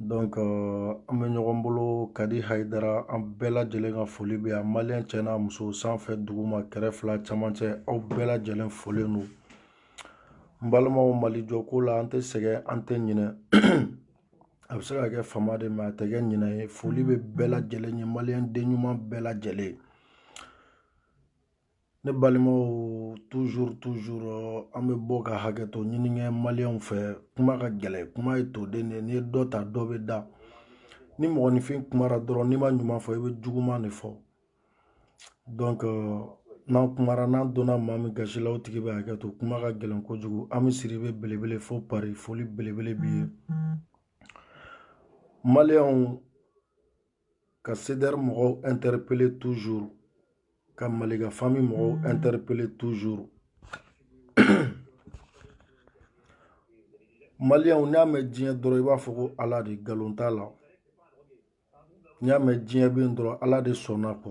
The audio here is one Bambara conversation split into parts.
donc euh, an bɛ ɲɔgɔn bolo kadi hayidara an bɛɛ lajɛlen ka foli bɛ yan maliyɛn cɛ n'a muso sanfɛ duguma kɛrɛ fila camancɛ aw bɛɛ lajɛlen folen don n balimaw mali jɔko la an tɛ sɛgɛn an tɛ ɲinɛ a bɛ se ka kɛ fama de mɛ a tɛ kɛ ɲinɛ ye foli bɛ bɛɛ lajɛlen ye maliyɛn den ɲuman bɛɛ lajɛlen ne balimaw toujours toujours an bɛ bɔ ka hakɛ to ɲini kɛ maliyɛnw fɛ kuma ka gɛlɛn kuma ye toden de n'i ye dɔ ta dɔ bɛ da ni mɔgɔninfin kumara dɔrɔn n'i ma ɲuman fɔ i bɛ juguman de fɔ donc euh, n'an kumara n'an donna maa min gasi la o tigi bɛ hakɛ to kuma ka gɛlɛn kojugu an bɛ siri bɛ belebele fo pari foli belebele b'i ye maliyɛnw ka CDR mɔgɔw interpeller toujours ka Maliga famille mɔgɔw interpeller toujours maliyɛnw n'i y'a mɛn diɲɛ dɔrɔn i b'a fɔ ko ala de nkalon t'a la n'i y'a mɛn diɲɛ bɛ yen dɔrɔn ala de sɔnna kɔ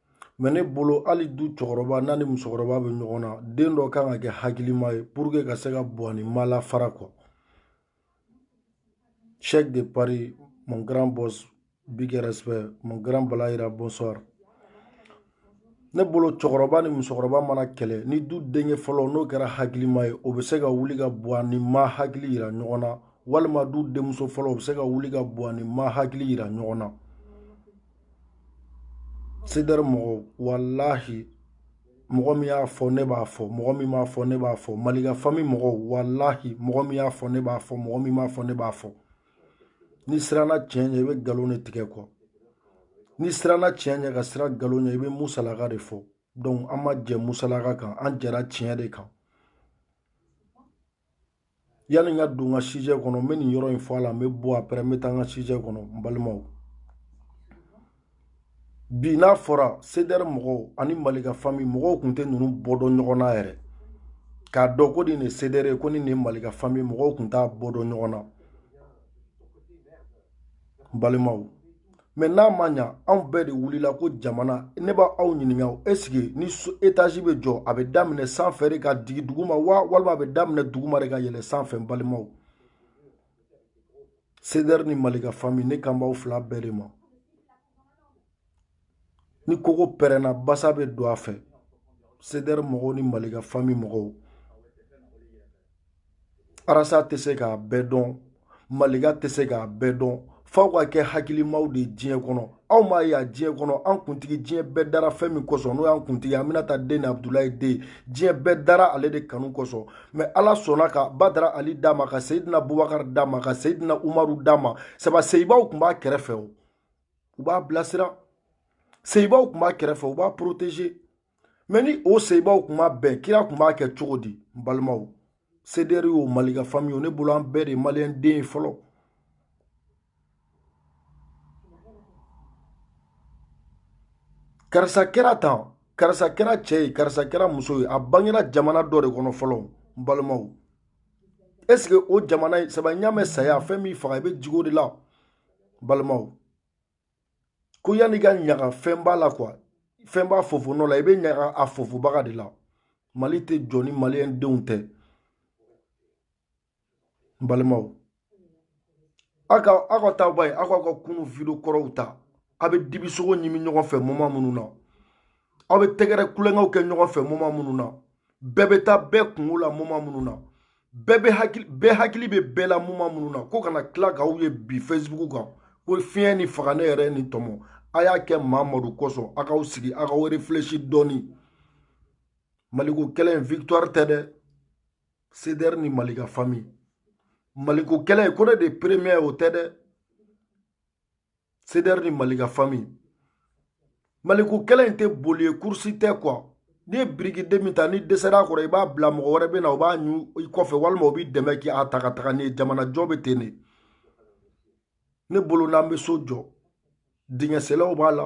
mɛ ne bolo hali du cɛkɔrɔba n'a ni musokɔrɔba bɛ ɲɔgɔn na den dɔ kan ka kɛ hakilima ye pour que ka se ka buwa ni ma lafara kɔ cheikh de paris mon grand boss big respect mon grand balayira bonsoir ne bolo cɛkɔrɔba ni musokɔrɔba mana kɛlɛ ni du denkɛ fɔlɔ n'o kɛra hakilima ye o bɛ se ka wuli ka buwa ni ma hakili yira ɲɔgɔn na walima du denmuso fɔlɔ o bɛ se ka wuli ka buwa ni ma hakili yira ɲɔgɔn na sedɛri mɔgɔw walahi mɔgɔ min y'a fɔ ne b'a fɔ mɔgɔ min m'a fɔ ne b'a fɔ malika fami mɔgɔw walahi mɔgɔ min y'a fɔ ne b'a fɔ mɔgɔ min m'a fɔ ne b'a fɔ n'i siranna tiɲɛ ɲɛ i bɛ nkalon de tigɛ kɔ n'i siranna tiɲɛ ɲɛ ka siran nkalon ɲɛ i bɛ musalaka de fɔ donc an ma jɛ musalaka kan an jɛra tiɲɛ de kan yanni n ka don n ka sijɛ kɔnɔ n bɛ nin yɔrɔ in fɔ a la n bɛ bɔ apɛrɛ n bɛ taa n ka sijɛ kɔnɔ n balimaw bi n'a fɔra sedɛri mɔgɔw ani malika fami mɔgɔw tun tɛ ninnu bɔ dɔn ɲɔgɔn na yɛrɛ k'a dɔn ko nin de sedɛri ye ko nin de ye malika fami mɔgɔw tun t'a bɔ dɔn ɲɔgɔn na n balimaw mɛ n'a ma ɲa anw bɛɛ de wulila ko jamana ne bɛ aw ɲininka esike ni etazi bɛ jɔ a bɛ daminɛ san fɛ de ka digi duguma wa walima a bɛ daminɛ duguma de ka yɛlɛ san fɛ n balimaw sedɛri ni malika fami ne kan b'aw fila bɛɛ de ma ni kogo pɛrɛnna basa bɛ don a fɛ sedɛri mɔgɔw ni malika fami mɔgɔw arasa tɛ se k'a bɛɛ dɔn malika tɛ se k'a bɛɛ dɔn f'aw ka kɛ hakilimaw de diɲɛ kɔnɔ aw m'a ye a diɲɛ kɔnɔ an kuntigi diɲɛ bɛɛ dara fɛn min kosɔn n'o y'an kuntigi aminata den ni abudulayi den diɲɛ bɛɛ dara ale de kanu kosɔn mɛ ala sɔnna ka badara ali d'a ma ka seyidina bubakari d'a ma ka seyidina umaru d'a ma saba seyibaw tun b'a kɛrɛfɛ o u b'a bilasira seyibaw tun b'a kɛrɛfɛ u b'a protege mɛ ni o seyibaw tun ma bɛn kira tun b'a kɛ cogo di n balimaw sedɛri yo malika fami o ne bolo an bɛɛ de maliyɛn den ye fɔlɔ karisa kɛra tan karisa kɛra cɛ ye karisa kɛra muso ye a bangera jamana dɔ de kɔnɔ fɔlɔ n balimaw est ce que o jamana in saba ɲamɛ saya fɛn min faga i bɛ jigi o de la balimaw ko yanni ka ɲaga fɛnba la kuwa fɛnba fofonɔ la i bɛ ɲaga a fofobaga de la mali tɛ jɔ ni maliyɛn denw tɛ n balimaw aw ka aw ka taa ba ye aw k'aw ka kunu video kɔrɔw ta aw bɛ dibisogo ɲimi ɲɔgɔn fɛ moma minnu na aw bɛ tɛgɛrɛ tulonkɛw kɛ ɲɔgɔn fɛ moma minnu na bɛɛ bɛ taa bɛɛ kunko la moma minnu na bɛɛ bɛ hakili bɛɛ hakili bɛ bɛɛ la moma minnu na ko kana tila k'aw ye bi facebook kan ko fiɲɛ ni faga ne yɛrɛ ni tɔmɔ a y'a kɛ mamadu kosɔn a k'aw sigi a k'aw refilɛsi dɔɔni maliko kɛlɛ in victoire tɛ dɛ cdr ni malika famille maliko kɛlɛ ko ne de premier o tɛ dɛ sedɛri ni malika fami maliko kɛlɛ in tɛ boli ye kurusi tɛ kuwa n'i ye birikiden min ta n'i dɛsɛra a kɔrɔ i b'a bila mɔgɔ wɛrɛ bɛ na o b'a ɲu i kɔfɛ walima o b'i dɛmɛ k'i a ta ka taga n'i ye jamanajɔ bɛ ten de ne bolo n'an bɛ so jɔ dingɛsennaw b'a la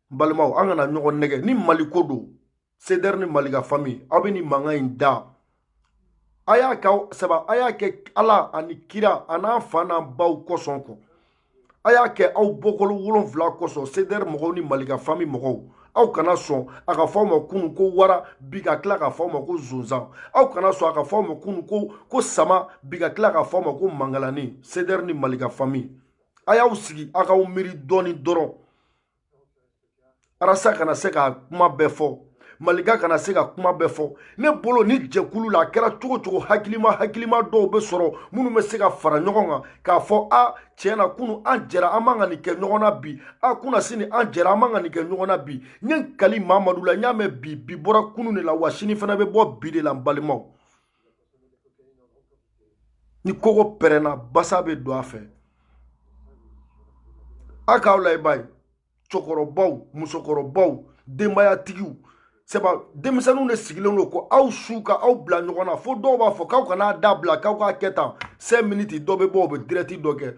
n balimaw an kana ɲɔgɔn nɛgɛn ni maliko don sedɛri ni malika fami aw bɛ nin mankan in da a y'a kɛ saba a y'a kɛ ala ani kira a n'a fa n'a baw kosɔn kɔ a y'a kɛ aw bɔkolo wolonfila kosɔn sedɛri mɔgɔw ni malika fami mɔgɔw aw kana sɔn a ka fɔ aw ma kunu ko wara bi ka tila ka fɔ aw ma ko zonzan aw kana sɔn a ka fɔ aw ma kunu ko ko sama bi ka tila ka fɔ aw ma ko mangalani sedɛri ni malika fami a y'aw sigi a k'aw miiri dɔɔni dɔrɔn arasa kana se ka kuma bɛɛ fɔ malika kana se ka kuma bɛɛ fɔ ne bolo ni jɛkulu la a kɛra cogo cogo hakilima hakilima dɔw bɛ sɔrɔ minnu bɛ se ka fara ɲɔgɔn kan k'a fɔ a tiɲɛ na kunu an jɛra an man kan nin kɛ ɲɔgɔn na bi a kunna sini an jɛra an man kan nin kɛ ɲɔgɔn na bi n ye n kali mamadu la n y'a mɛn bi bi bɔra kunu de la wa sini fana bɛ bɔ bi de la n balimaw ni kogo pɛrɛnna basa bɛ don a fɛ a k'aw la i b'a ye cɛkɔrɔbaw musokɔrɔbaw denbayatigiw sɛba denmisɛnninw de sigilen don ko aw su ka aw bila ɲɔgɔn na fo dɔw b'a fɔ k'aw kan'a dabila k'aw k'a kɛ tan cinq minutes dɔ bɛ bɔ o bɛ dirɛti dɔ kɛ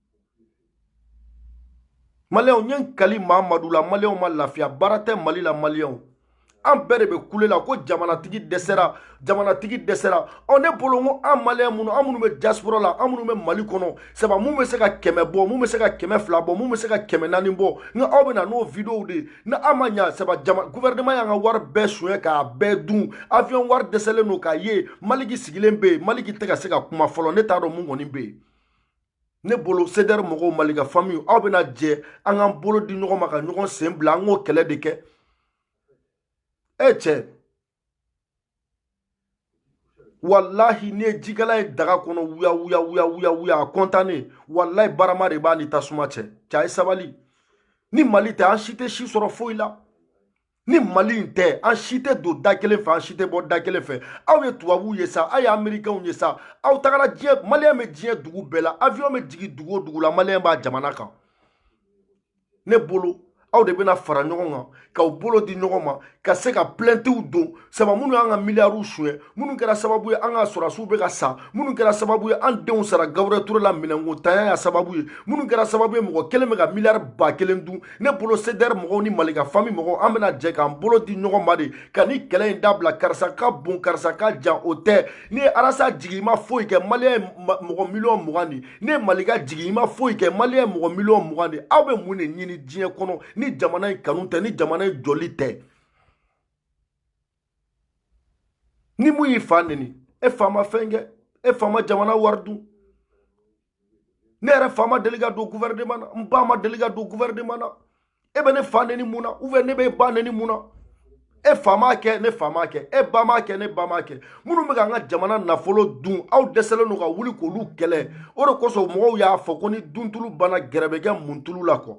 maliyɛnw n ye n kali mamadu la maliyɛnw ma lafiya baara tɛ mali la maliyɛnw an bɛɛ de bɛ kule la ko jamanatigi dɛsɛra jamanatigi dɛsɛra ɔ ne bolo n ko an maliyɛn minnu an minnu bɛ diaspora la an minnu bɛ mali kɔnɔ saba mun bɛ se ka kɛmɛ bɔ mun bɛ se ka kɛmɛ fila bɔ mun bɛ se ka kɛmɛ naani bɔ nka aw bɛ na n'o videow de ye ni an ma ɲa saba jama gouvernement y'an ka wari bɛɛ suɲɛ k'a bɛɛ dun avion wari dɛsɛlen don k'a ye maliki sigilen bɛ yen maliki tɛ ka se ka kuma fɔlɔ ne t'a dɔn mun kɔni bɛ yen ne bolo sedɛri mɔgɔw malika fami aw bɛna jɛ an k'an bolo di ɲɔgɔn ma ka ɲɔgɔn sen bila an k'o kɛlɛ de kɛ e cɛ walahi ne ye jikalan ye daga kɔnɔ wuya wuya wuya wuya wuya a kɔntannen walahi barama de b'a ni tasuma cɛ cɛ a ye sabali ni mali tɛ an si tɛ si sɔrɔ foyi la ni mali in tɛ an si tɛ don da kelen fɛ an si tɛ bɔ da kelen fɛ aw ye tubabuw ye sa aw ye amerikɛnw ye sa aw tagara diɲɛ maliyɛn bɛ diɲɛ dugu bɛɛ la avion bɛ jigin dugu o dugu la maliyɛn b'a jamana kan ne bolo aw de bɛna fara ɲɔgɔn kan k'aw bolo di ɲɔgɔn ma ka se ka plɛntiw don saba minnu y'an ka miliyariw suɲɛ minnu kɛra sababu ye an ka sɔrɔdasiw bɛ ka sa minnu kɛra sababu ye an denw sara gabiriyɛli ture la minɛnkotanya y'a sababu ye minnu kɛra sababu ye mɔgɔ kelen bɛ ka miliyari ba kelen dun ne bolo sedɛri mɔgɔw ni malika fami mɔgɔw an bɛna jɛ k'an bolo di ɲɔgɔn ma de ka ni kɛlɛ in dabila karisa ka bon karisa ka jan o tɛ n'i ye arasa jigin i ma foyi kɛ maliyɛn ye mɔgɔ miliyɔn mugan de n'i ye malika jigin i ma foyi kɛ maliyɛn ye mɔgɔ miliyɔn mugan de aw bɛ mun de ɲini diɲɛ kɔnɔ ni jamana in kanu tɛ ni jamana in jɔli tɛ ni mun y'i fa neni e fa ma fɛn kɛ e fa ma jamana wari dun ne yɛrɛ fa ma deli ka don gouvernement na n ba ma deli ka don gouvernement na e bɛ ne fa neni mun na ou bien ne bɛ e ba neni mun na e fa m'a kɛ ne fa m'a kɛ e ba m'a kɛ ne ba m'a kɛ minnu bɛ k'an ka jamana nafolo dun aw dɛsɛlen don ka wuli k'olu kɛlɛ o de kosɔn mɔgɔw y'a fɔ ko ni duntulu banna gɛrɛ bɛ kɛ muntulu la kɔ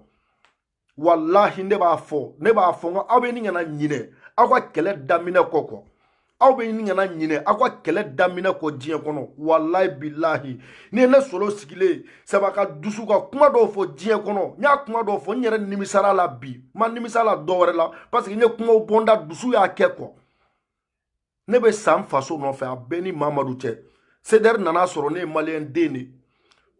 walahi ne b'a fɔ ne b'a fɔ n ko aw bɛɛ nin kana ɲinɛ aw ka kɛlɛ daminɛ kɔ kɔ aw bɛɛ nin kana ɲinɛ aw ka kɛlɛ daminɛ kɔ diɲɛ kɔnɔ walahi bilahi n'i ye ne solo sigilen saba ka dusu ka kuma dɔw fɔ diɲɛ kɔnɔ n y'a kuma dɔw fɔ n yɛrɛ nimisara a la bi n ma nimisa a la dɔ wɛrɛ la parce que n ye kumaw bɔ n da dusu y'a kɛ kɔ ne bɛ sa n faso nɔfɛ a bɛ n ni mamadu cɛ sedɛri nana sɔrɔ ne ye maliyɛn den de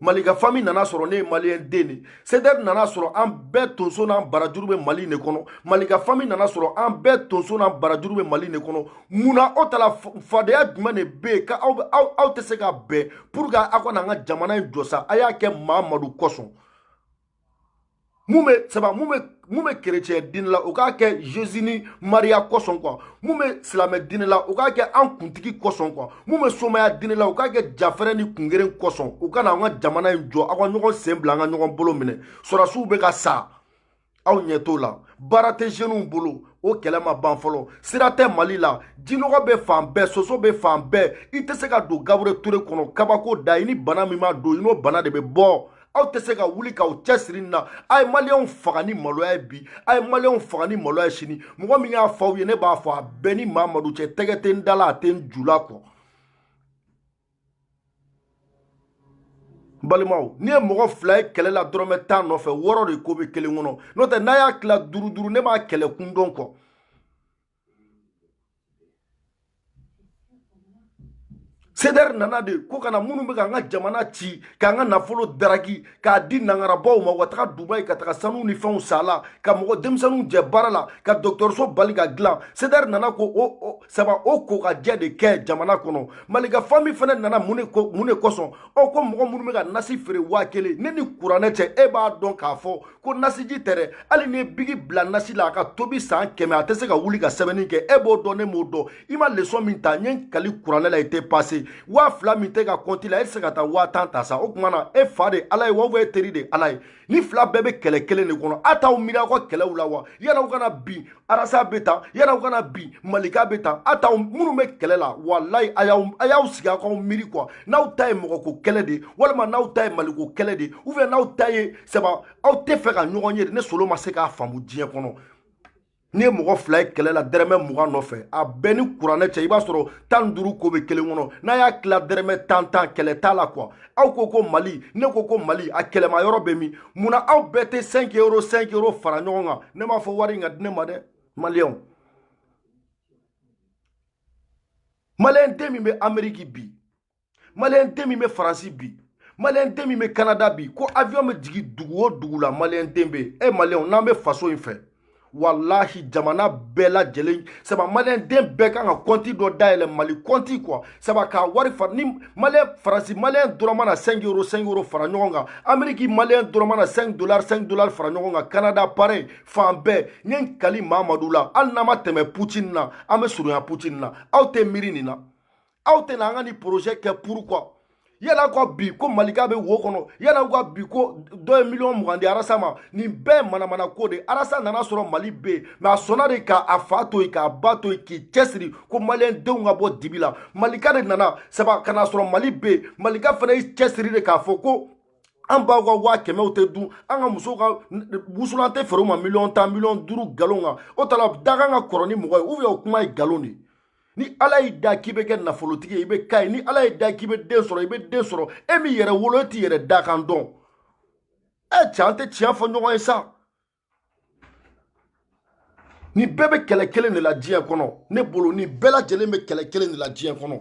malika fami nana sɔrɔ ne ye maliyɛn den de sedɛri nana sɔrɔ an bɛɛ tonso n'an barajuru bɛ mali de kɔnɔ malika fami nana sɔrɔ an bɛɛ tonso n'an barajuru bɛ mali de kɔnɔ mun na aw ta la fadenya jumɛn de bɛ yen ka aw aw aw tɛ se ka bɛn pour que aw ka na an ka jamana in jɔ sa a y'a kɛ mamadu kosɔn mun bɛ saba mun bɛ mun bɛ kerecɛn diinɛ la o k'a kɛ jesu ni mariya kosɔn kuwa mun bɛ silamɛ diinɛ la o k'a kɛ an kuntigi kosɔn kuwa mun bɛ somaya diinɛ la o k'a kɛ jafɛrɛ ni kungeren kosɔn o ka na an ka jamana in jɔ aw ka ɲɔgɔn sen bila an ka ɲɔgɔn bolo minɛ sɔrɔdasiw bɛ ka sa aw ɲɛ t'o la baara tɛ jeunes bolo o kɛlɛ ma ban fɔlɔ sira tɛ mali la jinɔgɔ bɛ fan bɛɛ soso bɛ fan bɛɛ i tɛ se ka don gaburiyɛli ture kɔnɔ kabako da i ni bana min ma don i n'o bana de bɛ bɔ aw tɛ se ka wuli k'aw cɛsiri nin na a ye maliyɛnw faga ni maloya ye bi a ye maliyɛnw faga ni maloya ye sini mɔgɔ min y'a fɔ aw ye ne b'a fɔ a bɛ n ni mamadu cɛ tɛgɛ tɛ n da la a tɛ n ju la kɔ balimaw n'i ye mɔgɔ fila ye kɛlɛ la dɔrɔmɛ tan nɔfɛ wɔɔrɔ de ko bɛ kelen kɔnɔ n'o tɛ n'a y'a tila duuru duuru ne b'a kɛlɛ kun dɔn kɔ sedɛri nana de ko kana minnu bɛ k'an ka jamana ci k'an ka nafolo daraki k'a di nangarabaw ma u ka taga dubayi ka taga sanu ni fɛnw san a la ka mɔgɔ denmisɛnninw jɛ baara la ka dɔgɔtɔrɔso bali ka dilan sedɛri nana ko o saba o kokajɛ de kɛ jamana kɔnɔ malika fami fana nana mun de kosɔn ɔ ko mɔgɔ minnu bɛ ka nasi feere waa kelen ne ni kuranɛ cɛ e b'a dɔn k'a fɔ ko nasiji tɛ dɛ hali n'i ye biki bila nasi la a ka tobi san kɛmɛ a tɛ se ka wuli ka sɛbɛnni kɛ e b'o dɔn ne m'o dɔn i ma lesɔn min ta n ye n kali kuranɛ la i tɛ pase waa fila min t'i ka kɔnti la e tɛ se ka taa waa tan ta sa o tuma na e fa de ala ye wa ubiyɛn e teri de ala ye nin fila bɛɛ bɛ kɛlɛ kelen de kɔnɔ a t'aw miiri aw ka kɛlɛw la wa yala aw kana bin arasa bɛ tan yala aw kana bin malika bɛ tan a t'aw minnu bɛ kɛlɛ la walayi a y'aw a y'aw sigi aw k'aw miiri kuwa n'aw ta ye mɔgɔko kɛlɛ de ye walima n'aw ta ye maliko kɛlɛ de ye ubiyɛn n'aw ta ye sabu aw tɛ fɛ ka ɲɔgɔn ye de ne solo ma se k'a faamu diɲɛ kɔnɔ n'i ye mɔgɔ fila ye kɛlɛ la dɛrɛmɛ mugan nɔfɛ a bɛ n ni kuranɛ cɛ i b'a sɔrɔ tan ni duuru ko bɛ kelen kɔnɔ n'a y'a tila dɛrɛmɛ tan tan kɛlɛ t'a la kuwa aw ko ko mali ne ko ko mali a kɛlɛma yɔrɔ bɛ min mun na aw bɛɛ tɛ sɛnki euro sɛnki euro fara ɲɔgɔn kan ne m'a fɔ wari in ka di ne ma dɛ maliyɛnw maliyɛn den min bɛ ameriki bi maliyɛn den min bɛ faransi bi maliyɛn den min bɛ kanada bi ko avion bɛ jigin dugu o dugu la maliyɛn den bɛ yen e maliyɛnw n'an bɛ faso in fɛ walahi jamana bɛɛ lajɛlen saba maliyɛn den bɛɛ kan ka kɔnti dɔ dayɛlɛ mali kɔnti quoi saba k'a wari fara ni maliyɛn faransi maliyɛn dɔrɔn mana cinq euro cinq euro fara ɲɔgɔn kan ameriki maliyɛn dɔrɔn mana cinq dollar cinq dollar fara ɲɔgɔn kan kanada pareil fan bɛɛ n ye n kali mamadu la hali n'an ma tɛmɛ putin na an bɛ surunya putin na aw tɛ miiri nin na aw tɛ na an ka nin projet kɛ pourquoi yala ka bi ko malika bɛ wo kɔnɔ yala ka bi ko dɔ ye miliyɔn mugan di arasa ma nin bɛɛ manamana ko de arasa nana sɔrɔ mali bɛ yen mais a sɔnna de ka a fa to yen k'a ba to yen k'i cɛsiri ko maliyɛn denw ka bɔ dibi la malika de nana saba ka na sɔrɔ mali bɛ yen malika fana y'i cɛsiri de k'a fɔ ko an baw ka waa kɛmɛw tɛ dun an ka musow ka wusulan tɛ feere u ma miliyɔn tan miliyɔn duuru nkalon kan o t'a la dakan ka kɔrɔ ni mɔgɔ ye ou bien o kuma ye nkalon de ye ni ala y'i da k'i bɛ kɛ nafolotigi ye i bɛ k'a ye ni ala y'i da k'i bɛ den sɔrɔ i bɛ den sɔrɔ e min yɛrɛ wolo e t'i yɛrɛ dakan dɔn ɛ e, cɛ an tɛ tiɲɛ fɔ ɲɔgɔn ye sa nin bɛɛ bɛ kɛlɛ kelen de la diɲɛ kɔnɔ ne bolo nin bɛɛ lajɛlen bɛ kɛlɛ kelen de la diɲɛ kɔnɔ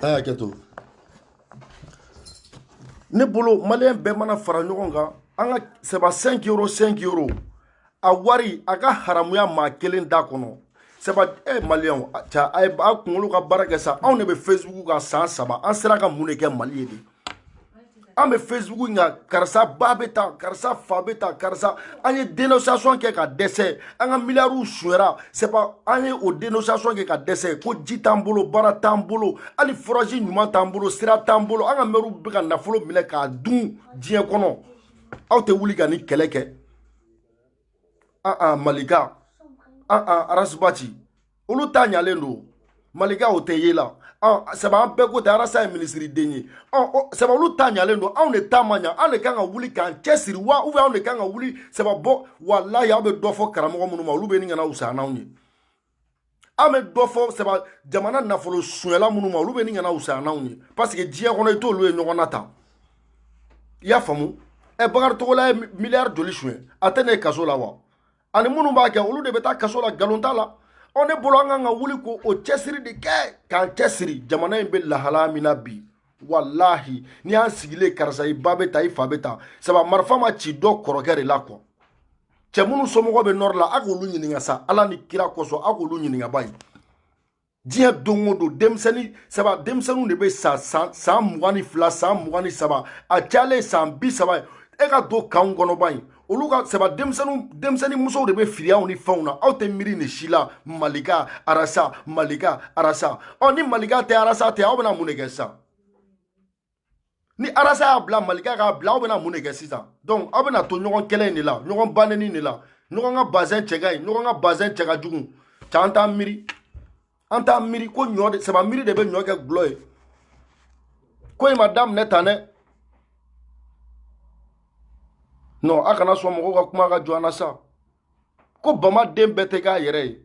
Hakɛto ne bolo maliyɛn bɛɛ mana fara ɲɔgɔn kan an ka sɛba cinq euro cinq euro a wari a ka haramuya maa kelen da kɔnɔ sɛba e eh, maliyɛnw a ca a ye a kunkolo ka baara kɛ sa anw de bɛ facebook kan san saba an sera ka mun de kɛ mali ye de an bɛ facebook kan karisa ba bɛ tan karisa fa bɛ tan karisa an ye dénonciation kɛ ka dɛsɛ an ka miliyariw suɲɛra sɛba an ye o dénonciation kɛ ka dɛsɛ ko ji t'an bolo baara t'an bolo hali forage ɲuman t'an bolo sira t'an bolo an ka mɛriw bɛ ka nafolo minɛ k'a dun diɲɛ kɔnɔ aw tɛ wuli ka nin kɛlɛ kɛ ah ah malika ah ah arasibati olu ta ɲalen don malika o tɛ ye la ah, saba an bɛɛ ko tɛ arasa ye minisiriden ye ah, oh, saba olu ta ɲalen don anw de ta ma ɲa anw de kan ka wuli k'an cɛsiri wa ou bien anw de kan ka wuli sababu walayi aw bɛ dɔ fɔ karamɔgɔ minnu ma olu bɛ ni kana wusa n'anw ye an bɛ dɔ fɔ saba jamana nafolo sonyala minnu ma olu bɛ ni kana wusaya n'anw ye parce que diɲɛ kɔnɔ i t'olu ye ɲɔgɔn na tan i y'a faamu ɛ bakari togola ye miliyari joli suɲɛ a tɛ ne kaso la wa ani minnu b'a kɛ olu de bɛ taa kaso la nkalon t'a la ɔ ne bolo an kan ka wuli k'o cɛsiri de kɛ k'an cɛsiri jamana in bɛ lahalaya min na bi walahi n'i y'an sigilen karisa i ba bɛ tan i fa bɛ tan saba marifa ma ci dɔ kɔrɔkɛ de la quoi cɛ minnu somɔgɔ bɛ nɔri la a k'olu ɲininka sa ala ni kira kosɔn a k'olu ɲininka bani diɲɛ don o don denmisɛnnin saba denmisɛnninw de bɛ sa san mugan ni fila san mugan ni saba a cayalen san bi saba ye e ka don kanw kɔnɔ bani olu ka saba denmisɛnninw denmisɛnnin musow de bɛ firiyaw ni fɛnw na aw tɛ miiri nin si la malika arasa malika arasa ɔ ni malika tɛ arasa tɛ aw bɛna mun de kɛ sisan ni arasa y'a bila malika k'a bila aw bɛna mun de kɛ sisan donc aw bɛna to ɲɔgɔn kɛlɛ in de la ɲɔgɔn ba nɛni de la ɲɔgɔn ka bazɛn cɛ ka ɲi ɲɔgɔn ka bazɛn cɛ ka jugu cɛ an t'an miiri an t'a miiri ko ɲɔ de saba miiri de bɛ ɲɔ kɛ dɔlɔ ye ko in ma daminɛ tan dɛ non a kana sɔn mɔgɔw ka kuma ka jɔ an na sa ko bama den bɛɛ tɛ k'a yɛrɛ ye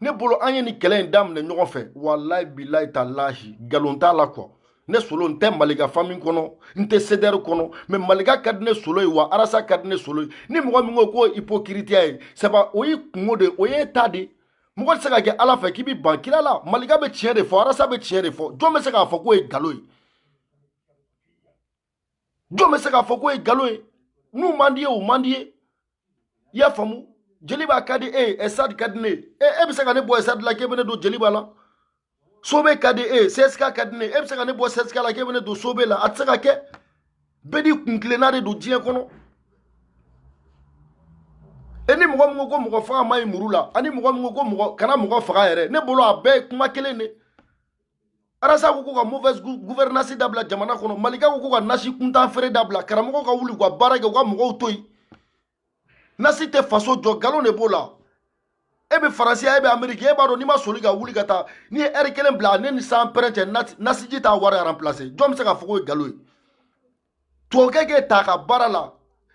ne bolo an ye nin kɛlɛ in daminɛ ɲɔgɔn fɛ walayi bilayi talahi nkalon t'a la quoi ne solo n tɛ malika famille kɔnɔ n tɛ cdr kɔnɔ mais malika ka di ne solo ye wa arasa ka di ne solo ye ni mɔgɔ min ko k'o ipokiritiya ye saba o y'i kungo de o y'e ta de mɔgɔ tɛ se ka kɛ ala fɛ k'i bɛ ban kira la malika bɛ tiɲɛ de fɔ arasa bɛ tiɲɛ de fɔ jɔn bɛ se k'a fɔ k'o ye nkalon ye jɔn bɛ se k'a fɔ k'o ye nkalon ye n'o man d'i ye o man d'i ye i y'a faamu jeliba ka di e ye stade ka di ne ye e bɛ se ka ne bɔ stade la k'e bɛ ne don jeliba la sobe ka di e ye csk ka di ne ye e bɛ se ka ne bɔ csk la k'e bɛ ne don sobe la a tɛ se ka kɛ bɛɛ n'i kuntilenna de don diɲɛ kɔnɔ e ni mɔgɔ min ko ko mɔgɔ faga man ɲi muru la ani mɔgɔ min ko ko mɔgɔ kana mɔgɔ faga yɛrɛ ne bolo a bɛɛ ye kuma kelen de arasa ko ko ka mauvaise gouvernance dabila jamana kɔnɔ malika ko ko ka nasi kuntan feere dabila karamɔgɔw ka wuli u ka baara kɛ u ka mɔgɔw to yen nasi tɛ faso jɔ galon de b'o la e bɛ faransiya e bɛ ameriki e b'a dɔn n'i ma soli ka wuli ka taa n'i ye ɛri kelen bila ne ni san pɛrɛn cɛ nasiji t'a wari aranplase jɔn bɛ se k'a fɔ k'o ye galo ye tubabukɛ k'e ta ka baara la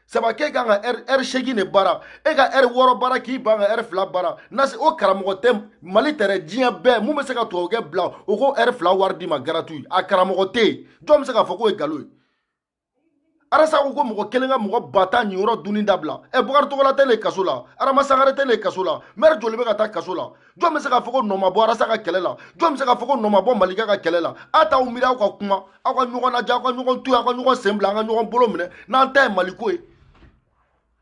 saba k'e kan ka ɛri seegin de baara e ka ɛri wɔɔrɔ baara k'i ban ka ɛri fila baara nasi o karamɔgɔ tɛ mali tɛrɛ diɲɛ bɛɛ min bɛ se ka tubabukɛ bila o k'o ɛri fila wari d'i ma gratuit a karamɔgɔ tɛ yen jɔn bɛ se k'a fɔ k'o ye galo ye arasa ko ko mɔgɔ kelen ka mɔgɔ ba tan niyɔrɔ dunni dabila ɛ bakari togola tɛ nin kaso la adama sangare tɛ nin kaso la mɛri joli bɛ ka taa kaso la jɔn bɛ se k'a fɔ ko nɔ ma bɔ arasa ka kɛlɛ la jɔn bɛ se k'a fɔ ko nɔ ma bɔ malika ka kɛlɛ la a t'aw miiri aw ka kuma aw ka ɲɔgɔn lajɛ aw ka ɲɔgɔn to yen aw ka ɲɔgɔn sen bila an ka ɲɔgɔn bolo minɛ n'an ta ye mali ko ye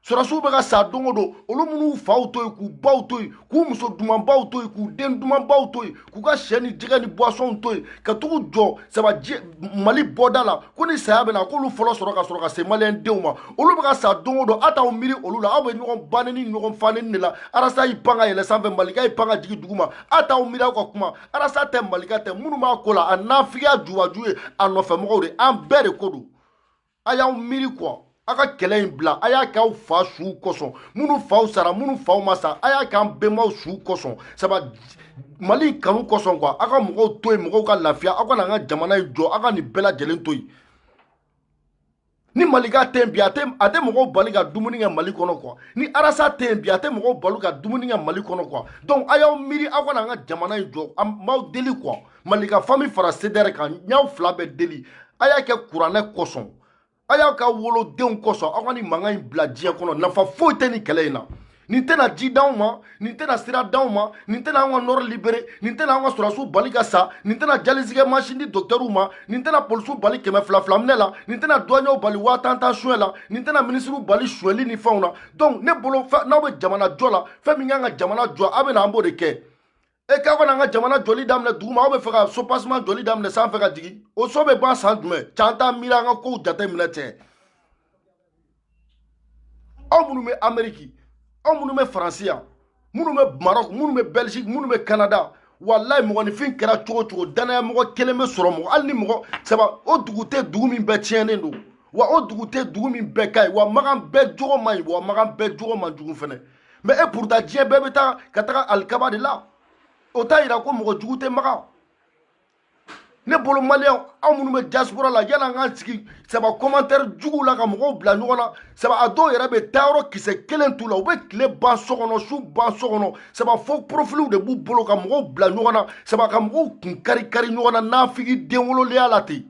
sɔrɔdasiw bɛ ka sa don o don olu minnu faw to yen k'u baw to yen k'u muso dumanbaw to yen k'u den dumanbaw to yen k'u ka sɛ ni jɛgɛ ni buwasɔnw to yen ka tag'u jɔ saba mali bɔda la ko ni saya bɛ na k'olu fɔlɔ sɔrɔ ka sɔrɔ ka se maliyɛn denw ma olu bɛ ka sa don o don aw t'aw miiri olu la aw bɛ ɲɔgɔn ba nɛni ni ɲɔgɔn fa nɛni de la arasa y'i pan ka yɛlɛ sanfɛ malika y'i pan ka jigin dugu ma aw t'aw miiri aw ka kuma arasa tɛ malika tɛ minnu b'a ko la a nafigiya jubaju ye a nɔfɛmɔgɔw de an bɛɛ de ko don a y'aw miiri quoi a ka kɛlɛ in bila a y'a kɛ aw fa suw kosɔn minnu faw sara minnu faw ma sa a y'a kɛ an bɛnbaw suw kosɔn saba mali kanu kosɔn quoi aw ka mɔgɔw to yen mɔgɔw ka lafiya aw ka na an ka jamana in jɔ aw ka nin bɛɛ lajɛlen to yen ni malika tɛ yen bi a tɛ mɔgɔw bali ka dumuni kɛ mali kɔnɔ quoi ni arasa tɛ yen bi a tɛ mɔgɔw bali ka dumuni kɛ mali kɔnɔ quoi donc a y'aw miiri aw ka na an ka jamana in jɔ an b'aw deli quoi malika famille fara cdr kan n y'aw fila bɛɛ deli a y'a kɛ kuranɛ kosɔn a y'a k'aw wolodenw kosɔn aw ka nin mankan in bila diɲɛ kɔnɔ nafa foyi tɛ nin kɛlɛ in na nin tɛna ji d'anw ma nin tɛna sira d'anw ma nin tɛna an ka nord libérer nin tɛna an ka sɔrɔdasiw bali ka sa nin tɛna dialyse kɛ mansin di dɔktɛriw ma nin tɛna polisiw bali kɛmɛ fila fila minɛ la nin tɛna duwaɲɛw bali waa tan tan suɲɛ la nin tɛna minisiriw bali suɲɛli ni fɛnw na donc ne bolo n'aw bɛ jamana jɔ la fɛn min kan ka jamana jɔ aw bɛ na an b'o de kɛ e k'aw ka na an ka jamana jɔli daminɛ duguma aw bɛ fɛ ka soubassement jɔli daminɛ sanfɛ ka jigin o so bɛ ban san jumɛn cɛ an t'an miiri an ka kow jate minɛ cɛ aw minnu bɛ ameriki aw minnu bɛ faransi yan minnu bɛ marɔk minnu bɛ bɛlgiki minnu bɛ kanada walayi mɔgɔninfin kɛra cogo cogo dannaya mɔgɔ kelen bɛ sɔrɔ mɔgɔ hali ni mɔgɔ saba o dugu tɛ dugu min bɛɛ tiɲɛnen don wa o dugu tɛ dugu min bɛɛ ka ɲi wa makan bɛɛ jogo man ɲi wa makan bɛɛ jogo man jugu fana mais et pourtant diɲɛ bɛɛ bɛ taa ka taga alikaba de la o t'a yira ko mɔgɔ jugu tɛ makan ne bolo maliyɛn aw minnu bɛ diaspora la yala an k'an sigi saba commentaire juguw la ka mɔgɔw bila ɲɔgɔn na saba a dɔw yɛrɛ bɛ taa yɔrɔ kisɛ kelen t'u la u bɛ tile ban so kɔnɔ su ban so kɔnɔ saba faux profilw de b'u bolo ka mɔgɔw bila ɲɔgɔn na saba ka mɔgɔw kun kari kari ɲɔgɔn na nafigi den wolodenya la ten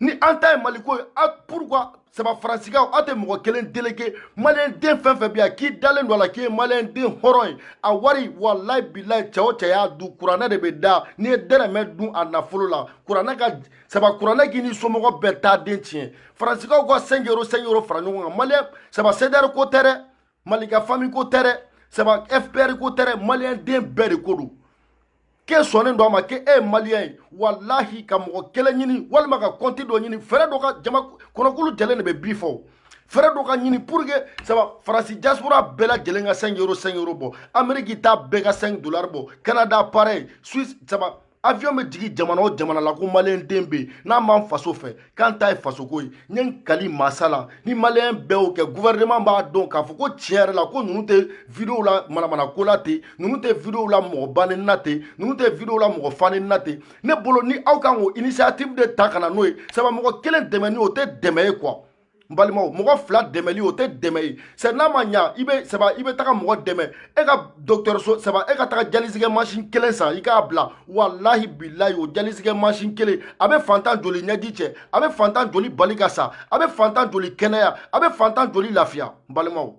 ni an ta ye maliko ye a pourquoi saba faransikaw aw tɛ mɔgɔ kelen déléguer maliyɛn den fɛn fɛn bɛ yan k'i dalen don a la k'i ye maliyɛn den hɔrɔn ye a wari walayi bilayi cɛ o cɛ y'a dun kuranɛ de bɛ da n'i ye dɛrɛmɛ dun a nafolo la kuranɛ ka saba kuranɛ k'i ni somɔgɔ bɛɛ taa den tiɲɛ faransikaw ka cinq euro cinq euro fara ɲɔgɔn kan maliyɛn saba cdr ko tɛ dɛ malika famille ko tɛ dɛ saba fpr ko tɛ dɛ maliyɛn den bɛɛ de ko don k'e sɔnnen don a ma k'e ye maliyɛn ye walahi ka mɔgɔ kelen ɲini walima ka kɔnti dɔ ɲini fɛɛrɛ dɔ ka jama kɔnɔkulu jɛlen de bɛ bi fɔ fɛɛrɛ dɔ ka ɲini pour que saba faransi diaspora bɛɛ lajɛlen ka 5 euro 5 euro bɔ ameriki ta bɛɛ ka 5 dollar bɔ canada pareil suisse saba avion bɛ jigin jamana o jamana la ko maliyɛn den bɛ yen n'an b'an faso fɛ k'an ta ye fasoko ye n ye n kali masa la ni maliyɛn bɛɛ y'o kɛ gouvernement b'a dɔn k'a fɔ ko tiɲɛ yɛrɛ la ko ninnu tɛ videow la manamanako la ten ninnu tɛ videow la mɔgɔ ba nɛni na ten ninnu tɛ videow la mɔgɔ fa nɛni na ten ne bolo ni aw kan k'o initiative de ta ka na n'o ye saba mɔgɔ kelen dɛmɛni o tɛ dɛmɛ ye quoi n balimaw mɔgɔ fila dɛmɛli o tɛ dɛmɛ ye c'est n'a ma ɲa i bɛ saba i bɛ taga mɔgɔ dɛmɛ e ka docteur saba e ka taga dialyse kɛ mansin kelen san i k'a bila walahi bilayi o dialyse kɛ mansin kelen a bɛ fantan joli ɲɛji cɛ a bɛ fantan joli bali ka sa a bɛ fantan joli kɛnɛya a bɛ fantan joli lafiya n balimaw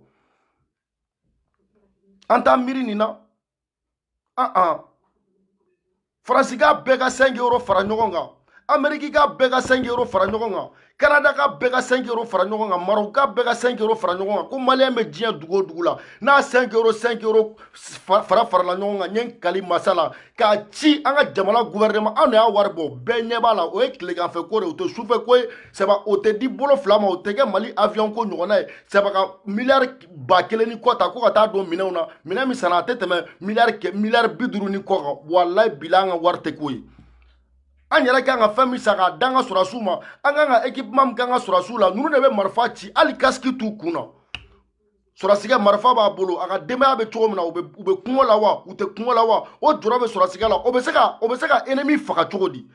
an t'an miiri nin na faransi ka bɛɛ ka cinq euros fara ɲɔgɔn kan ameriki ka bɛɛ ka cinq euros fara ɲɔgɔn kan kanada ka bɛɛ ka cinq euros fara ɲɔgɔn kan marɔku ka bɛɛ ka cinq euros fara ɲɔgɔn kan ko maliyɛn bɛ diɲɛ dugu o dugu la n'a cinq euros cinq euros fara farala ɲɔgɔn kan n ye n kali masa la k'a ci an ka jamana guvɛrɛnɛma anw de y'a wari bɔ bɛɛ ɲɛ b'a la o ye tilegan fɛ ko de o tɛ sufɛ ko ye saba o tɛ di bolo fila ma o tɛ kɛ mali awiyɔn ko ɲɔgɔnna ye saba ka miliyari ba kelen ni kɔ ta ko ka taa don minɛnw na minɛn min sanna a tɛ tɛmɛ miliyari kɛ miliyari bi duuru ni kɔ kan walayi bila an ka wari tɛ k'o ye an yɛrɛ kan ka fɛn min san k'a d'an ka sɔrɔdasiw ma an kan ka ekipema min k'an ka sɔrɔdasiw la ninnu de bɛ marifa ci hali kasiki t'u kun na sɔrɔdasikɛ marifa b'a bolo a ka denbaya bɛ cogo min na u bɛ kɔngɔ la wa u tɛ kɔngɔ la wa o jɔrɔ bɛ sɔrɔdasikɛ la o bɛ se ka o bɛ se ka enemi faga cogo di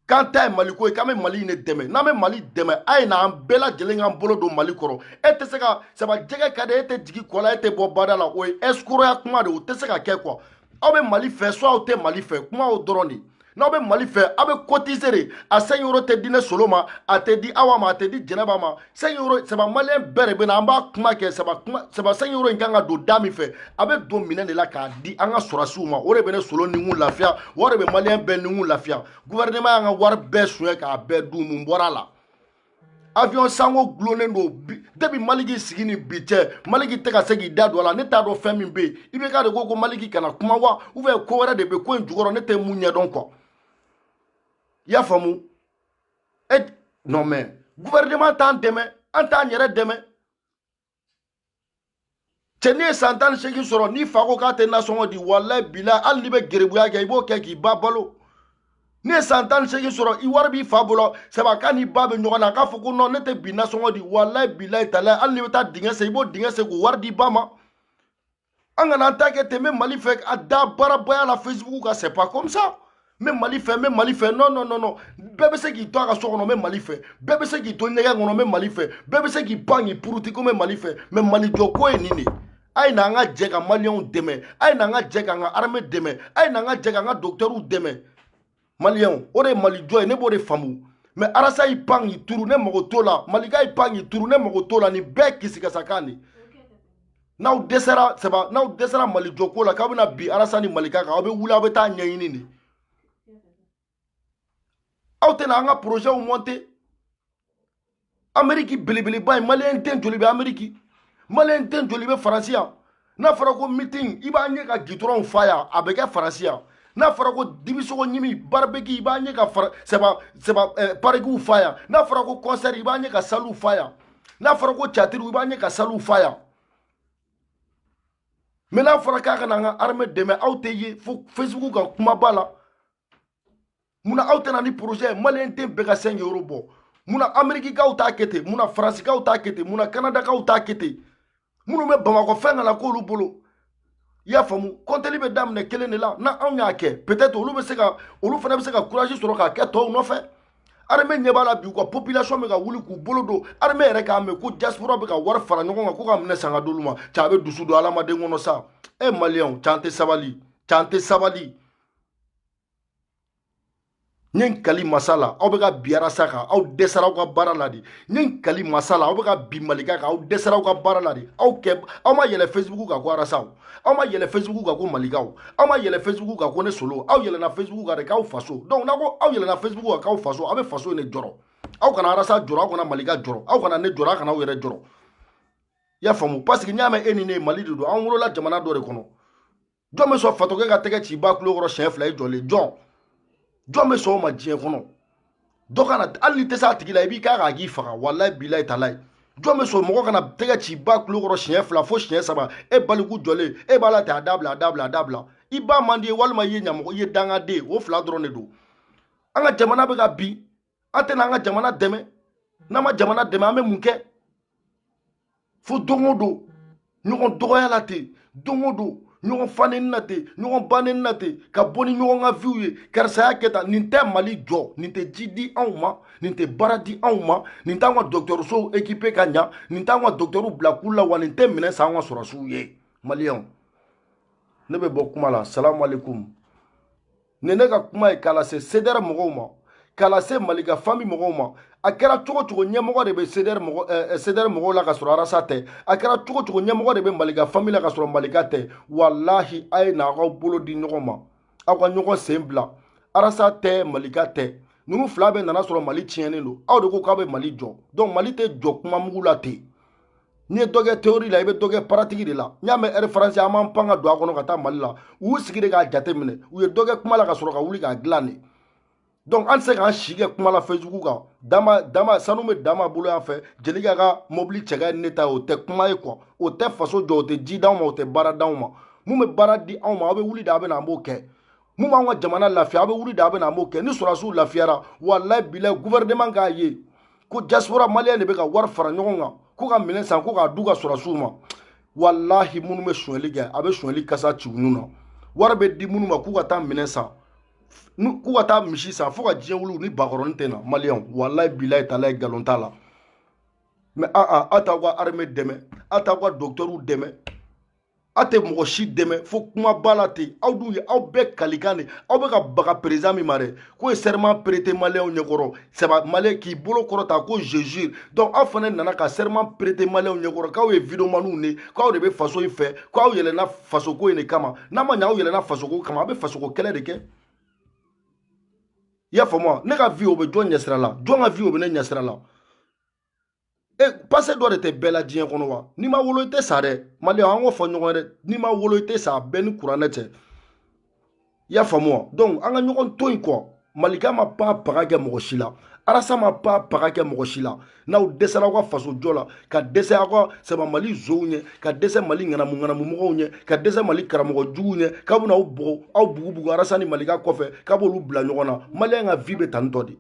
k'an ta ye maliko ye k'an bɛ mali in de dɛmɛ n'an bɛ mali dɛmɛ a ye na an bɛɛ lajɛlen k'an bolo don mali kɔrɔ e tɛ se ka saba jɛgɛ ka di e tɛ jigi kɔ la e tɛ bɔ bada la o ye ɛsikoroya kuma de o tɛ se ka kɛ quoi aw bɛ mali fɛ soit aw tɛ mali fɛ kuma o dɔrɔn de n'aw bɛ mali fɛ aw bɛ kotise de a cinq euros tɛ di ne solo ma a tɛ di awa ma a tɛ di jɛnɛba ma cinq euros saba maliyɛn bɛɛ de bɛ na an b'a kuma kɛ saba kuma saba cinq euros in kan ka don da min fɛ a bɛ don minɛn de la k'a di an ka sɔrɔsiw ma o de bɛ ne solo ni kun lafiya o de bɛ maliyɛn bɛɛ ni kun lafiya guvɛrɛnɛma y'an ka wari bɛɛ suɲɛ k'a bɛɛ dun mun bɔra a la avion sanko dulonnen don depuis maliki sigi ni bi cɛ maliki tɛ ka se k'i da don a la ne t'a dɔn fɛn min bɛ yen IBK de ko ko maliki kana kuma wa ou bien ko wɛrɛ de bɛ ko in jukɔrɔ ne tɛ min ɲɛdɔn quoi i y'a faamu e non mais gouvernement t'an dɛmɛ an t'an yɛrɛ dɛmɛ cɛ n'e ye san tan ni seegin sɔrɔ n'i fa ko k'a tɛ nasɔngɔ di walayi bila hali n'i bɛ gerebuya kɛ i b'o kɛ k'i ba balo n'e ye san tan ni seegin sɔrɔ i wari b'i fa bolo saba k'a n'i ba bɛ ɲɔgɔn na k'a fɔ ko non ne tɛ bi nasɔngɔ di walayi bilayi talayi hali n'i bɛ taa dingɛ sen i b'o dingɛ sen k'o wari di ba ma an kana an ta kɛ ten n bɛ mali fɛ a da baarabaya la facebook kan c'est pas comme ça n bɛ mali fɛ n bɛ mali fɛ non non non non bɛɛ bɛ se k'i to a ka so kɔnɔ n bɛ mali fɛ bɛɛ bɛ se k'i to ɲɛgɛn kɔnɔ n bɛ mali fɛ bɛɛ bɛ se k'i pan k'i puruti ko n bɛ mali fɛ mais mali jɔ ko ye nin de ye a ye na an ka jɛ ka maliyɛnw dɛmɛ a ye na an ka jɛ k'an ka armée dɛmɛ a ye na an ka jɛ k'an ka dɔgɔtɛriw dɛmɛ maliyɛnw o de ye mali jɔ ye ne b'o de faamu mais arasa y'i pan k'i turu ne mago t'o la malika y'i pan k'i turu ne mago t'o la nin bɛɛ kisikasakan de n'aw dɛsɛra saba n'aw dɛsɛra mali jɔko la k'aw bɛna bi arasa ni malika kan aw bɛ wuli aw bɛ taa ɲɛɲini de aw tɛna an ka porozɛw mɔnte ameriki belebeleba ye maliyɛn den joli bɛ ameriki maliyɛn den joli bɛ faransi yan n'a fɔra ko meeting i b'a ɲɛ ka gitɔrɔnw fa yan a bɛ kɛ faransi yan n'a fɔra ko dibisogo ɲimi baribeki i b'a ɲɛ ka sɛba sɛba eh, parikiw fa yan n'a fɔra ko concert i b'a ɲɛ ka saliw fa yan n'a fɔra ko catiriw i b'a ɲɛ ka saliw fa yan mais n'a fɔra k'a ka na an ka armée dɛmɛ aw tɛ ye fo facebook kan kumaba la mun na aw tɛ na ni projet ye maliyɛn den bɛɛ ka cinq euros bɔ mun na amerikikaw t'a kɛ ten mun na faransikaw t'a kɛ ten mun na kanadakaw t'a kɛ ten minnu bɛ bamakɔ fɛn kana k'olu bolo i y'a faamu kɔntɛli bɛ daminɛ kelen de la ni anw y'a kɛ peut-être olu bɛ se ka olu fana bɛ se ka courage sɔrɔ k'a kɛ tɔw nɔfɛ armée ɲɛ b'a la bi u ka population bɛ ka wuli k'u bolo don armée yɛrɛ k'a mɛn ko diaspora bɛ ka wari fara ɲɔgɔn kan ko ka minɛn san ka d'olu ma ca a bɛ dusu don hadamaden kɔnɔ sa e maliyɛnw ca an tɛ sabali ca an tɛ sabali n ye n kali masa la aw bɛ ka bin arasa kan aw dɛsɛra aw ka baara la de n ye n kali masa la aw bɛ ka bin malika kan aw dɛsɛra aw ka baara la de aw kɛ aw ma yɛlɛ facebook kan ko arasa aw ma yɛlɛ facebook kan ko malika aw ma yɛlɛ facebook kan ko ne solo aw yɛlɛna facebook kan de k'aw faso donc n'a ko aw yɛlɛna facebook kan k'aw faso aw bɛ faso in de jɔrɔ aw kana arasa jɔrɔ aw kana malika jɔrɔ aw kana ne jɔrɔ aw kana aw yɛrɛ jɔrɔ i y'a faamu parce que n'i y'a mɛn e ni ne ye mali de don an wolola jamana dɔ de kɔnɔ jɔn bɛ sɔn fatɔkɛ ka tɛgɛ ci i ba kulo kɔrɔ siɲɛ fila i jɔlen jɔn jɔn bɛ sɔn o ma diɲɛ kɔnɔ dɔ ka na hali n'i tɛ se a tigi la i b'i k'a kan a k'i faga walayi bilayi talayi jɔn bɛ sɔn mɔgɔ ka na tɛgɛ ci i ba kulo kɔrɔ siɲɛ fila fo siɲɛ saba e baliku jɔlen e b'a la ten a dabila a dabila a dabila i ba man di i ye walima i ye ɲamɔgɔ i ye dangaden o fila dɔrɔn de don an ka jamana bɛ ka bin an tɛna an ka jamana dɛmɛ n'an ma jamana dɛmɛ an bɛ mun kɛ fo don o don ɲɔgɔn dɔgɔya la ten don o don ɲɔgɔn faneni na ten ɲɔgɔn baneni na ten ka bɔ ni ɲɔgɔn ka viw ye karisa y'a kɛ tan nin tɛ mali jɔ nin tɛ ji di anw ma nin tɛ baara di anw ma nin t'an ka dɔgɔtɔrɔsow ekipe ka ɲa nin t'an ka dɔgɔtɔrɔw bila kulu la wa nin tɛ minɛn san an ka sɔrɔdasiw ye maliyɛnw ne bɛ bɔ kuma la salamu aleykum ni ne ka kuma ye k'a lase sedɛrɛ mɔgɔw ma k'a lase malika fami mɔgɔw ma a kɛra cogo cogo ɲɛmɔgɔ de bɛ sedɛrɛ mɔgɔ ɛɛ sedɛrɛ mɔgɔw la ka sɔrɔ arasa tɛ a kɛra cogo cogo ɲɛmɔgɔ de bɛ malika fami la ka sɔrɔ malika tɛ walahi a ye na aw bolo di ɲɔgɔn ma aw ka ɲɔgɔn sen bila arasa tɛ malika tɛ ninnu fila bɛɛ nana sɔrɔ mali tiɲɛnen don aw de ko k'aw bɛ mali jɔ donc mali tɛ jɔ kuma mugu la ten n'i ye dɔ kɛ théorie la i bɛ dɔ kɛ pratique de la n'i y'a mɛn air france an b'an pan ka don a kɔnɔ ka taa mali la u y'u sigi de k'a jate minɛ u ye dɔ kɛ kuma la ka sɔrɔ ka wuli k'a dilan de donc an tɛ se k'an si kɛ kuma la facebook kan dama dama sanu bɛ dama bolo yan fɛ jelika ka mobili cɛ ka ɲi ne ta ye o tɛ kuma ye quoi o tɛ faso jɔ o tɛ ji d'anw ma o tɛ baara d'anw ma mun bɛ baara di anw ma aw bɛ wuli de a bɛ na an b'o kɛ mun b'an ka jamana lafiya aw bɛ wuli de a bɛ na an b'o kɛ ni sɔrɔdasiw lafiyara walayi bilayi gouvernement k'a ye ko diaspora maliyɛn de bɛ ka wari fara ɲɔgɔn kan ko ka minɛn san ko k'a d'u ka sɔrɔdasiw ma walahi minnu bɛ sonyali kɛ a bɛ sonyali kasa ci u nun na wari bɛ di minnu ma k'u ka taa minɛn san k'u ka taa misi san fo ka diɲɛ wuli ni bakɔrɔnin tɛ na maliyɛnw walayi bilayi talayi nkalon t'a la mais aa a t'aw ka armée dɛmɛ a t'aw ka dɔgɔtɔrɔw dɛmɛ aw tɛ mɔgɔ si dɛmɛ fo kumaba la ten aw dun ye aw bɛɛ kalikan de aw bɛ ka baga président min ma dɛ k'o ye serment prêté maliyɛnw ɲɛkɔrɔ sɛba maliyɛn k'i bolo kɔrɔta ko je jure donc aw fana nana ka serment prêté maliyɛnw ɲɛkɔrɔ k'aw ye videomaniw de k'aw de bɛ faso in fɛ k'aw yɛlɛnna fasoko in de kama n'a ma ɲɛ aw yɛlɛnna fasoko kama aw bɛ fasoko kɛlɛ de kɛ i y'a faamu wa ne ka vie o bɛ jɔn ɲɛsira la jɔn ka vie o bɛ ne ɲɛsira la e passé dɔ de tɛ bɛɛ la diɲɛ kɔnɔ wa n'i ma wolo i tɛ sa dɛ maliyɛn an k'o fɔ ɲɔgɔn ye dɛ n'i ma wolo i tɛ sa bɛɛ ni kuranɛ cɛ i y'a faamu wa donc an ka ɲɔgɔn to yen kɔ malika ma pa paga kɛ mɔgɔ si la arasa ma pa paga kɛ mɔgɔ si la n'aw dɛsɛra aw ka faso jɔ la ka dɛsɛ aw ka saba mali zonw ɲɛ ka dɛsɛ mali ŋanamu ŋanamu mɔgɔw ɲɛ ka dɛsɛ mali karamɔgɔ juguw ɲɛ k'a bɛna aw bugɔ aw bugubugu arasa ni malika kɔfɛ k'a b'olu bila ɲɔgɔn na maliyɛn ka vie bɛ tantɔ de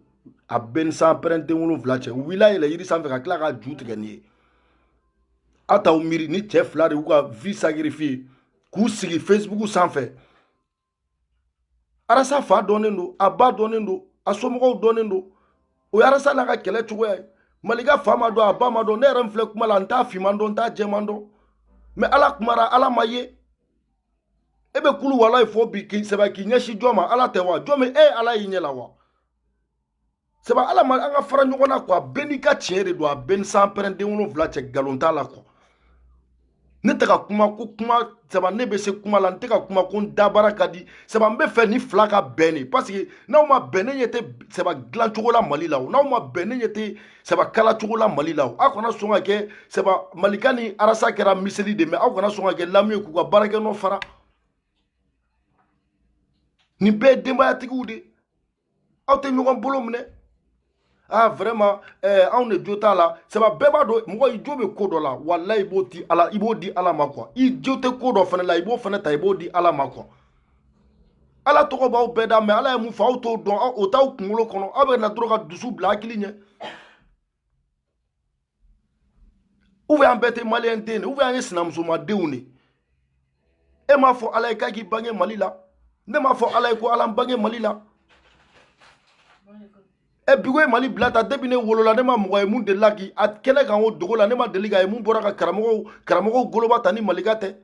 a bɛɛ ni sanpɛrɛn den wolonwula cɛ u wulila yɛlɛ yiri sanfɛ ka tila k'a ju tigɛ nin ye aw t'aw miiri nin cɛ fila de y'u ka vie sacrifier k'u sigi facebook sanfɛ arasa fa dɔnnen don a ba dɔnnen don a somɔgɔw dɔnnen don o ye arasa n'a ka kɛlɛ cogoya ye malika fa ma dɔn a ba ma dɔn ne yɛrɛ min filɛ kuma la n t'a fiman dɔn n t'a jɛman dɔn mais ala kumara ala ma ye e bɛ kulu walayi fɔ bi k'i sɛbɛ k'i ɲɛsin jɔn ma ala tɛ wa jɔn bɛ e ala y'i ɲɛ la wa sɛbɛ ala ma an ka fara ɲɔgɔn na quoi bɛɛ n'i ka tiɲɛ de don a bɛɛ ni sanpɛrɛn den wolonwula cɛ nkalon t'a la quoi ne tɛ ka kuma ko kuma saba ne bɛ se kuma la n tɛ ka kuma ko n dabara ka di saba n b'a fɛ nin fila ka bɛn de parce que n'aw ma bɛn ne ɲɛ tɛ saba dilancogo la mali la o n'aw ma bɛn ne ɲɛ tɛ saba kala cogo la mali la aw kana sɔn ka kɛ saba malika ni arasa kɛra miseli de mais aw kana sɔn ka kɛ lamu ye k'u ka baarakɛ nɔ fara nin bɛɛ ye denbayatigiw de aw tɛ ɲɔgɔn bolo minɛ ah vraiment eh, anw de jo t'a la saba bɛɛ b'a dɔn mɔgɔ i jo bɛ ko dɔ la walayi i b'o di ala i b'o di ala ma quoi i jo tɛ ko dɔ fana la i b'o fana ta i b'o di ala ma quoi ala tɔgɔ b'aw bɛɛ da mais ala ye mun fɔ aw t'o dɔn o t'aw kunkolo kɔnɔ aw bɛ na dɔrɔn ka dusu bila hakili ɲɛ ou bien an bɛɛ tɛ maliyɛn den de ou bien an ye sinamusomadenw de e m'a fɔ ala ye k'a k'i bange mali la ne m'a fɔ ala ye ko ala n bange mali la e bigo ye mali bila ta depuis ne wolola ne ma mɔgɔ ye min delila k'i a kɛnɛ kan o dogo la ne ma deli k'a ye min bɔra ka karamɔgɔw karamɔgɔw goloba ta ni malika tɛ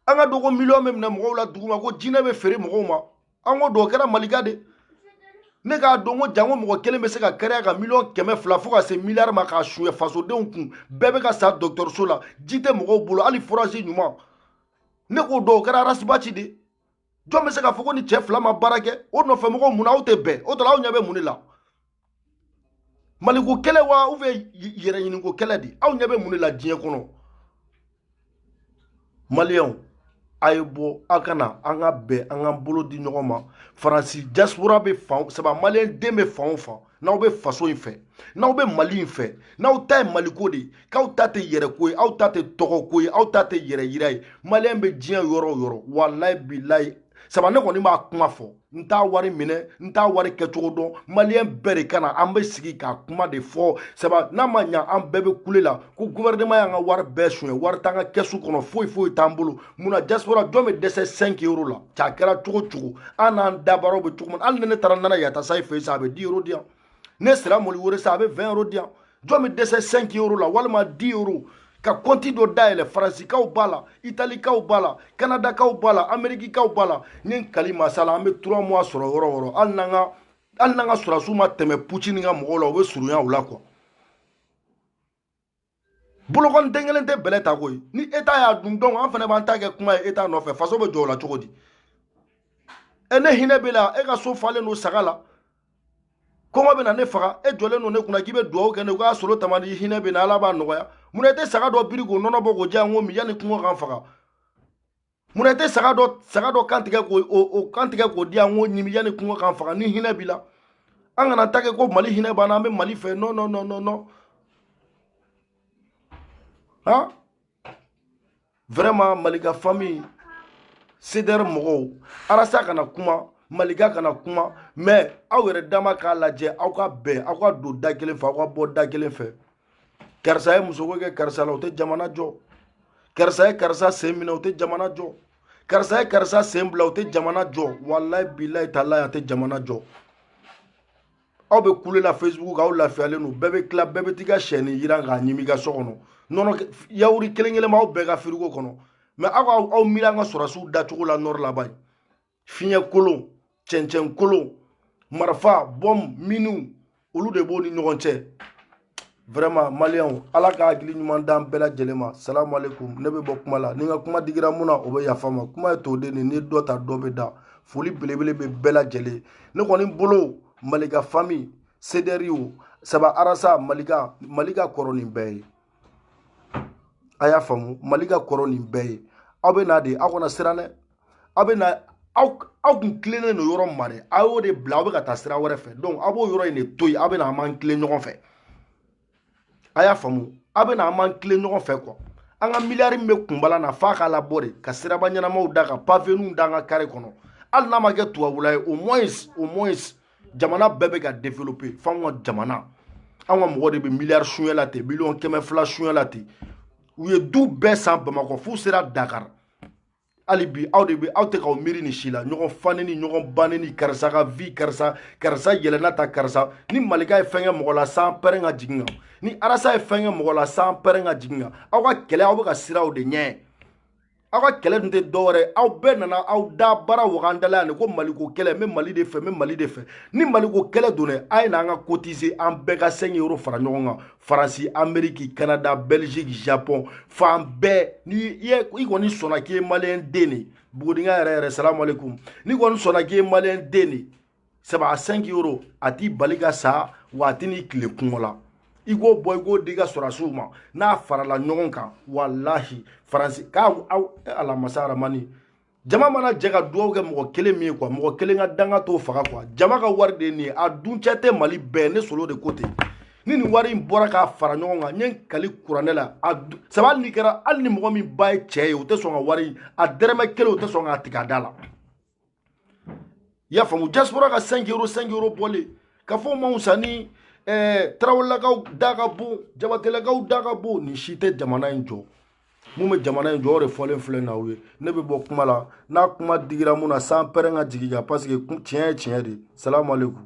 an ka dɔgɔ miliyɔn bɛ minɛ mɔgɔw la duguma ko jinɛ bɛ feere mɔgɔw ma an k'o dɔn o kɛra malika de ne k'a dɔn ko janko mɔgɔ kelen bɛ se ka kɛnɛya ka miliyɔn kɛmɛ fila fo ka se miliyari ma k'a suɲɛ fasodenw kun bɛɛ bɛ ka sa dɔgɔtɔrɔso la ji tɛ mɔgɔw bolo hali forage ɲuman ne k'o dɔn o kɛra arasibaci de jɔn bɛ se k'a fɔ ko nin cɛ fila ma baara kɛ o nɔfɛ mɔgɔw mun na aw tɛ bɛn o tɔ la aw ɲɛ bɛ mun de la maliko kɛlɛ wa ou bien yɛrɛɲiniko kɛlɛ de aw ɲɛ bɛ mun de la diɲɛ kɔnɔ maliyɛnw a ye bɔ aw ka na an ka bɛn an ka bolo di ɲɔgɔn ma faransi diaspora bɛ fan saba maliyɛn den bɛ fan o fan n'aw bɛ faso in fɛ n'aw bɛ mali in fɛ n'aw ta ye maliko de k'aw ta tɛ yɛrɛko ye aw ta tɛ tɔgɔko ye aw ta tɛ yɛrɛ yira ye maliyɛn bɛ diɲɛ yɔrɔ o yɔrɔ walayi bilayi saba ne kɔni b'a kuma fɔ n t'a wari minɛ n t'a wari kɛcogo dɔn maliyɛn bɛɛ de ka na an bɛ sigi k'a kuma de fɔ saba n'a ma ɲa an bɛɛ bɛ kule la ko guvɛrɛneman y'an ka wari bɛɛ suɲɛ wari t'an ka kɛsu kɔnɔ foyi foyi t'an bolo mun na diaspora jɔn bɛ dɛsɛ 5 euro la cɛ a kɛra cogo cogo an n'an dabaaraw bɛ cogo min hali ni ne taara nana yatasayi fɛ yen sa a bɛ 10 euro di yan ne sera moli were sa a bɛ 20 euro di yan jɔn bɛ dɛsɛ 5 euro la walima 10 euro ka kɔnti dɔ dayɛlɛ faransikaw b'a la italikaw b'a la kanadakaw b'a la amerikikaw b'a la ni n kali masala an bɛ trois mois sɔrɔ yɔrɔ yɔrɔ hali n'an ka hali n'an ka sɔrɔdasiw ma tɛmɛ pucini ka mɔgɔw la u bɛ surunya u la quoi bolokɔni den kelen tɛ bɛlɛ ta koyi ni eta y'a dun donc an fana b'an ta kɛ kuma ye eta nɔfɛ faso bɛ jɔ o la cogo di e ne hinɛ b'e la e ka so falen don saga la kɔngɔ bɛ na ne faga e jɔlen don ne kunna k'i bɛ dugawu kɛ ne k'a solo tamani hinɛ bɛ n na ala b'a nɔgɔya mun na e tɛ saga dɔ biri k'o nɔnɔ bɔ k'o di yan n k'o min yanni kɔngɔ ka n faga munna i tɛ saga dɔ kan tigɛ k'o di yan n k'o ɲimi yanni kɔngɔ ka n faga ni hinɛ b'i la an kana ta kɛ ko mali hinɛ b'an na an bɛ mali fɛ non non non non non han vraiment malika famille cdr mɔgɔw arasa kana kuma malika kana kuma mais aw yɛrɛ dama k'a lajɛ aw ka bɛn aw ka don da kelen fɛ aw ka bɔ da kelen fɛ karisa ye musoko kɛ karisa la o tɛ jamana jɔ karisa ye karisa sen minɛ o tɛ jamana jɔ karisa ye karisa sen bila o tɛ jamana jɔ walayi bilayi talayi a tɛ jamana jɔ aw bɛ kule la facebook aw lafiyalen don bɛɛ bɛ tila bɛɛ bɛ t'i ka sɛni jiran k'a ɲimi i ka so kɔnɔ nɔnɔ yawuri kelen kelen b'aw bɛɛ ka firigo kɔnɔ mais aw ka aw miiri an ka sɔrɔsiw dacogo la nɔri la ban fiɲɛ kolon cɛncɛn kolon marifa bɔm minu olu de b'o ni ɲɔgɔn cɛ vraiment maliyɛnw ala ka hakili ɲuman d'an bɛɛ lajɛlen ma salamu aleykum ne bɛ bɔ kuma la ni n ka kuma digira min na o bɛ yafa n ma kuma ye toden de ni dɔ ta dɔ bɛ da foli belebele bɛ bɛɛ lajɛlen ne kɔni bolo malika fami sedɛri o saba arasa malika malika kɔrɔ nin bɛɛ ye a y'a faamu malika kɔrɔ nin bɛɛ ye aw bɛ na dɛ aw kana siran dɛ aw bɛ na aw aw kun tilennen don yɔrɔ ma de aw y'o de bila aw bɛ ka taa sira wɛrɛ fɛ donc aw b'o yɔrɔ in de to yen aw bɛ na an b'an tilen ɲɔgɔn fɛ a y'a faamu aw bɛ na an b'an tilen ɲɔgɔn fɛ quoi an ka miliyari min bɛ kunbala na f'a k'a labɔ de ka siraba ɲɛnamaw da ka paveniw da an ka kare kɔnɔ hali n'a ma kɛ tubabula ye au moins au moins jamana bɛɛ bɛ ka développer f'anw ka jamana anw ka mɔgɔ de bɛ miliyari sunyɛ la ten miliyɔn kɛmɛ fila sunyɛ la ten u ye du bɛɛ san bamakɔ f'u sera dakari hali bi aw de bɛ aw tɛ k'aw miiri nin si la ɲɔgɔn fa nɛni ɲɔgɔn ba nɛni karisa ka vi karisa karisa yɛlɛnna ta karisa ni malika ye fɛn kɛ mɔgɔ la san pɛrɛn ka jigin kan ni arasa ye fɛn kɛ mɔgɔ la san pɛrɛn ka jigin kan aw ka kɛlɛ aw bɛ ka siran o de ɲɛ aw ka kɛlɛ dun tɛ dɔwɛrɛ aw bɛɛ nana aw dabara waga an da la yan de ko maliko kɛlɛ n bɛ mali de fɛ n bɛ mali de fɛ ni maliko kɛlɛ don dɛ a ye na an ka cotiser an bɛɛ ka 5 euro fara ɲɔgɔn kan faransi ameriki kanada belgique japon fan bɛɛ ni i kɔni sɔnna k'i ye maliyɛn den de bugudiŋa yɛrɛ yɛrɛ salamu aleykum n'i kɔni sɔnna k'i ye maliyɛn den de saba a 5 euro a t'i bali ka sa wa a tɛn'i tile kɔngɔ la i k'o bɔ i k'o di i ka sɔrasiw ma n'a farala ɲɔgɔn kan walahi faransi k'a aw alamasa aramani jama mana jɛ ka dugawu kɛ mɔgɔ kelen min ye quoi mɔgɔ kelen ka danga t'o faga quoi jama ka wari de ye nin ye a duncɛ tɛ mali bɛɛ ne solo de ko ten ni nin wari in bɔra k'a fara ɲɔgɔn kan n ye kali kuranɛ la a saba hali ni kɛra hali ni mɔgɔ min ba ye cɛ ye o tɛ sɔn ka wari a dɛrɛmɛ kelen o tɛ sɔn k'a tigɛ a da la i y'a faamu diaspora ka 5 euro 5 euro bɔlen ka fɔ ma wusa ni eh, tarawelelakaw da ka bon jabatelakaw da ka bon nin si tɛ jamana in jɔ mun bɛ jamana in jɔ o de fɔlen filɛ n'aw ye ne bɛ bɔ kuma la n'a kuma digira min na san pɛrɛn ka jigin kan paseke tiɲɛ ye tiɲɛ de salamu aleykum